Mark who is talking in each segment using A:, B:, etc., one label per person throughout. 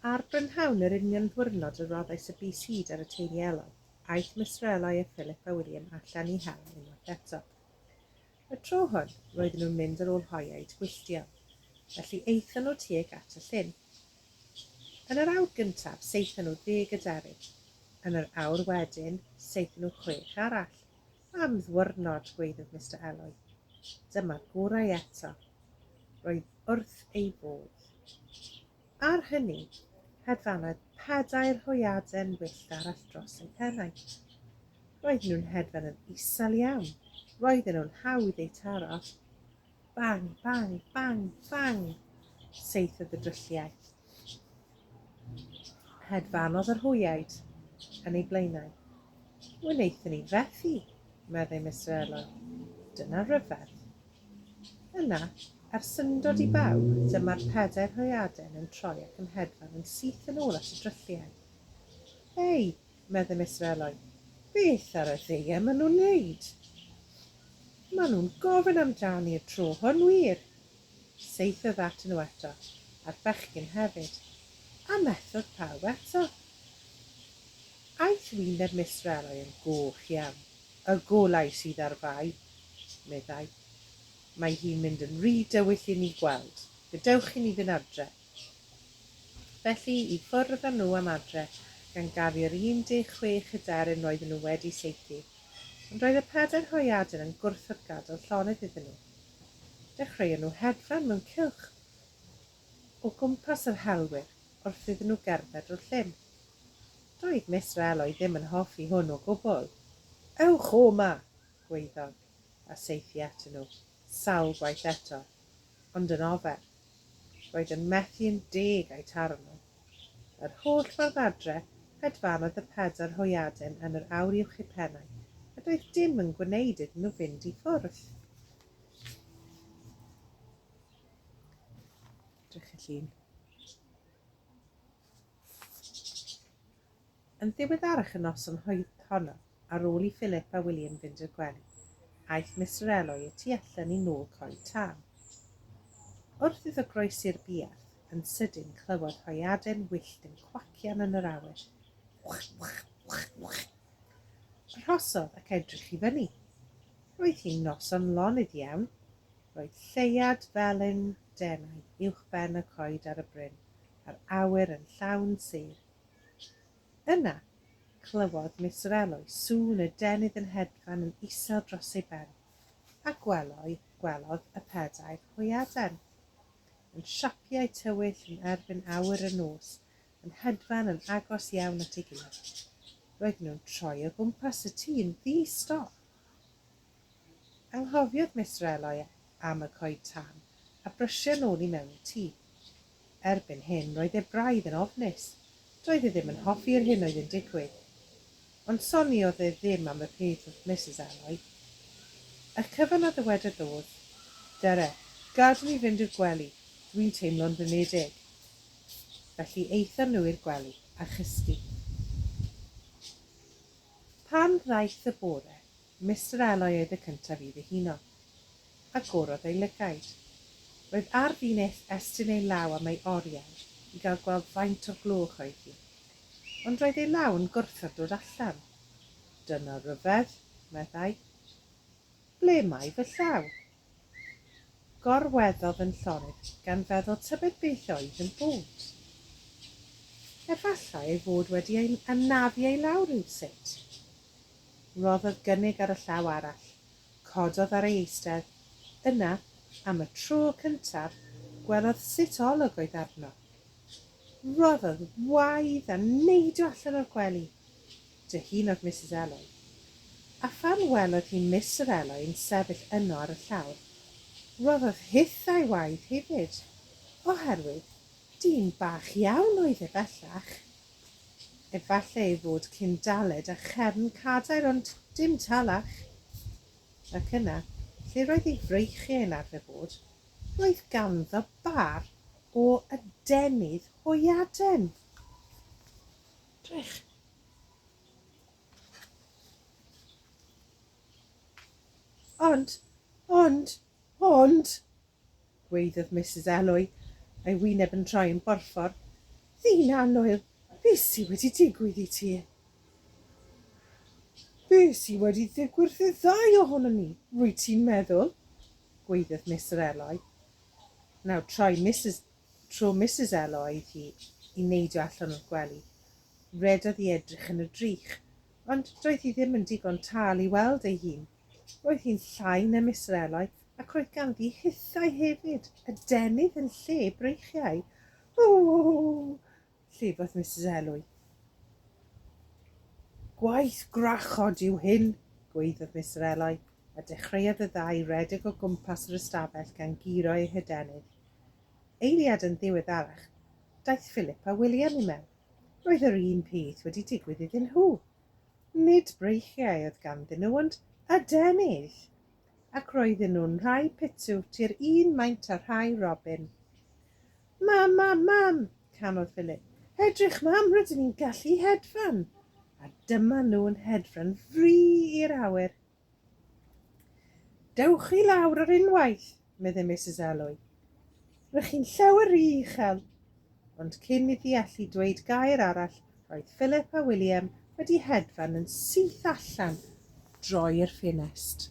A: Ar brynhawn yr union ddiwrnod y roddais y bys hud ar y teulu Ellor, aeth Misrelau a Philip a William allan i hel unwaith eto. Y tro hwn, roedden nhw'n mynd ar ôl hoia eu twyllion, felly aethon nhw tuag at y llyn. Yn yr awr gyntaf, saethon nhw ddeg aderyn. Yn yr awr wedyn, saethon nhw chwech arall. Am ddiwrnod, gwaeddodd Mister Eloi. Dyma'r gorau eto. Roedd wrth ei fodd. Ar hynny, hedfanodd pedair hwyaden wyllt arall dros ei pennau. Roedden nhw'n hedfan yn isel iawn, roedden nhw'n hawdd eu taro. Bang, bang, bang, bang, seithiodd y drylliau. Hedfanodd yr hwyaid yn ei blaenau. Wnaethon ni fethu, meddai Mister Elon. Dyna ryfedd. Yna, er syndod i bawb, dyma'r pedair hwyaden yn troi ac yn hedfan yn syth yn ôl at y drylliau. Hei, meddai Mister Eloi. Beth ar y ddeie maen nhw'n neud? Maen nhw'n gofyn amdani y tro hwn wir! Saethodd atyn nhw eto, a'r bechgyn hefyd, a methodd pawb eto. Aeth wyneb Mister Eloi yn goch iawn. Y golau sydd ar Fai! meddai. Mae hi'n mynd yn ry dywyll i ni gweld. Gadewch i ni fynd adref. Felly, i ffwrdd â nhw am adre, gan gafu'r 16 hyderyn roedden nhw wedi saethu. Ond roedd y pedair hwyaden yn gwrthod gadael llonydd iddyn nhw. Dechreuon nhw hedfan mewn cylch o gwmpas yr helwyr wrth iddyn nhw gerdded drwy'r llyn. Doedd Mister Eloi ddim yn hoffi hwn o gwbl. Ewch o 'ma! gwaeddodd, a saethu atyn nhw, sawl gwaith eto, ond yn ofer. Roedd yn methu yn deg â'i taro nhw. Yr holl ffordd adre, hedfanodd y pedair hwyaden yn yr aur uwch eu pennau, a doedd dim yn gwneud iddyn nhw fynd i ffwrdd. Edrych y llun. Yn ddiweddarach y noson honno, ar ôl i Philip a William fynd i'r gwely, aeth Mister Eloi y tu allan i nôl coed tân. Wrth iddo groesi'r buarth, yn sydyn clywodd hoeaden wyllt yn cwacian yn yr awyr. Wch, wch, wch, wch! Arhosodd ac edrych i fyny. Roedd hi'n noson lonydd iawn. Roedd lleuad felyn denau uwchben y coed ar y bryn, a'r awyr yn llawn sêr. Yna, clywodd Miss Rello i sŵn y denydd yn hedfan yn isel dros ei ben, a gweloi, gwelodd y pedair hwyaden, yn siapiau tywyll yn erbyn awyr y nos, yn hedfan yn agos iawn at ei gilydd. Roedden nhw'n troi o gwmpas y tŷ'n ddi-stop. Anghofiodd Mister Eloi am y coed tân, a brysia nôl i mewn i'r tŷ. Erbyn hyn, roedd e braidd yn ofnus. Doedd e ddim yn hoffi'r hyn oedd yn digwydd. Ond soniodd e ddim am y peth wrth Misus Eloi. Y cyfan a ddywedodd oedd, Dere, gad ni fynd i'r gwely, dwi'n teimlo'n flinedig. Felly aethon nhw i'r gwely, a chysgu. Pan ddaeth y bore, Mister Eloi oedd y cyntaf i ddihuno. Agorodd ei lygaid. Roedd ar fin eth estyn ei law am ei oriawr i gael gweld faint o gloch oedd hi. Ond roedd ei law yn gwrthod dod allan. Dyna ryfedd, meddai. Ble mae fy llaw? Gorweddodd yn llonydd gan feddwl tybed beth oedd yn bod. Efallai ei fod wedi ei anafu ei law rywsut. Rhoddodd gynnig ar y llaw arall, cododd ar ei eistedd, yna, am y tro cyntaf, gwelodd sut olwg oedd arno. Rhoddodd waedd a neidio allan o'r gwely. dy hun o'r Misus Eloi. A phan welodd hi Miss yr Eloi yn sefyll yno ar y llawr, rhoddodd hithau waed hefyd, oherwydd dyn bach iawn oedd e bellach. Efallai ei fod cyn daled a chefn cadair ond dim talach. Ac yna, lle roedd ei freichiau yn arfer bod, roedd ganddo bar o adenydd hwyaden! Gwych. Ond, ond, ond, gweiddodd Misus Elwy, a'i wyneb yn troi yn borffor. Ddyn annwyl, be sy wedi digwydd i ti? Be sy wedi ddigwydd i'r ddau ohonon ni, rwyt ti'n meddwl? gweiddodd Mister Elwy. Nawr troi Misus tro Misus Elo aeth hi i neidio allan o'r gwely. Rhedodd i edrych yn y drych, ond doedd hi ddim yn digon tal i weld ei hun. Roedd hi'n llai na Mister Eloi ac roedd ganddi hithau hefyd, adenydd yn lle breichiau. Ww! Llefaith Misus Elwy. Gwaith gwrachod yw hyn, gwaeddodd Mister Elwy, a dechreuodd y ddau redeg o gwmpas yr ystafell gan guro eu hydenydd. Eiliad yn ddiweddarach, daeth Philip a William i mewn. Roedd yr un peth wedi digwydd iddyn nhw. Nid breichiau oedd ganddyn nhw, ond adenydd! Ac roedden nhw'n rhai pitw, tir un maint a rhai robin. Mam, mam, mam! canodd Philip. Edrych, mam, rydyn ni'n gallu hedfan! A dyma nhw'n hedfan fri i'r awyr. Dewch i lawr ar unwaith, meddai Mrs Alloy. Rydych chi'n llawer rhy uchel. Ond cyn iddi allu dweud gair arall, roedd Philip a William wedi hedfan yn syth allan droi'r ffenest.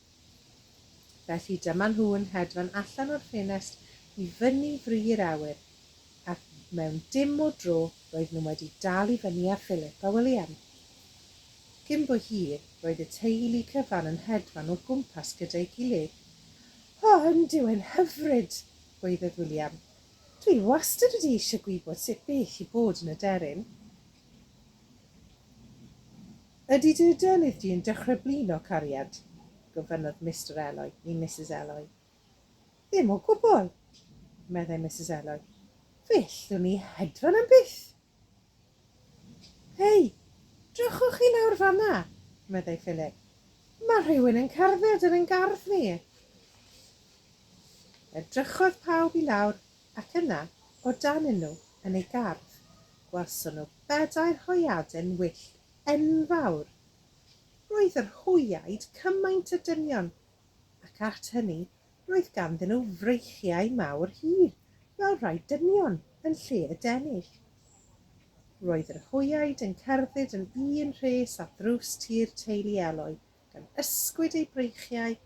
A: Felly dyma nhw yn hedfan allan o'r ffenest i fyny fri'r awyr, ac mewn dim o dro roedden nhw wedi dal i fyny â Philip a William. Cyn bo hir, roedd y teulu cyfan yn hedfan o gwmpas gyda'i gilydd. O, yndw, yn hyfryd! gwaeddodd William. Dwi wastad wedi eisiau gwybod sut beth i bod yn aderyn. Ydy dy adenydd di yn dechrau blino, cariad? gofynnodd Mister Eloi i Misus Eloi. Ddim o gwbl, meddai Misus Eloi. Fe ellwn i hedfan am byth! Hei, drychwch chi lawr fan'na, meddai Philip. Mae rhywun yn cerdded yn ein gardd ni! Edrychodd pawb i lawr ac yna o dan un nhw yn ei gardd, gwelson nhw bedair hwyaden wyllt enfawr. Roedd yr hwyaid cymaint o dynion, ac at hynny roedd ganddyn nhw freichiau mawr hir fel rhai dynion yn lle y denig. Roedd yr hwyaid yn cerdded yn un rhes ar ddrws tir teulu Eloi, gan ysgwyd eu breichiau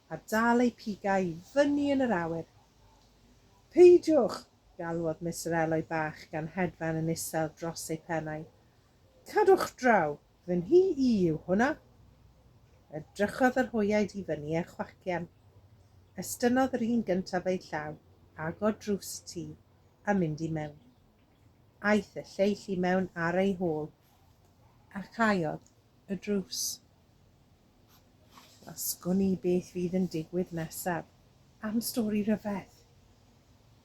A: a dal eu pigau i fyny yn yr awyr. Peidiwch! galwodd Mister Eloi Bach gan hedfan yn isel dros ei phennau. Cadwch draw! Fy nhŷ i yw hwnna! Edrychodd yr hoiaid i fyny a chwacian. Estynnodd yr un gyntaf eu llaw, agor drws y tŷ, a mynd i mewn. Aeth y lleill i mewn ar ei hôl. A chaeodd y drws. Gwasgwn i beth fydd yn digwydd nesaf. Am stori rhyfedd.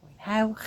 A: Mwynhewch!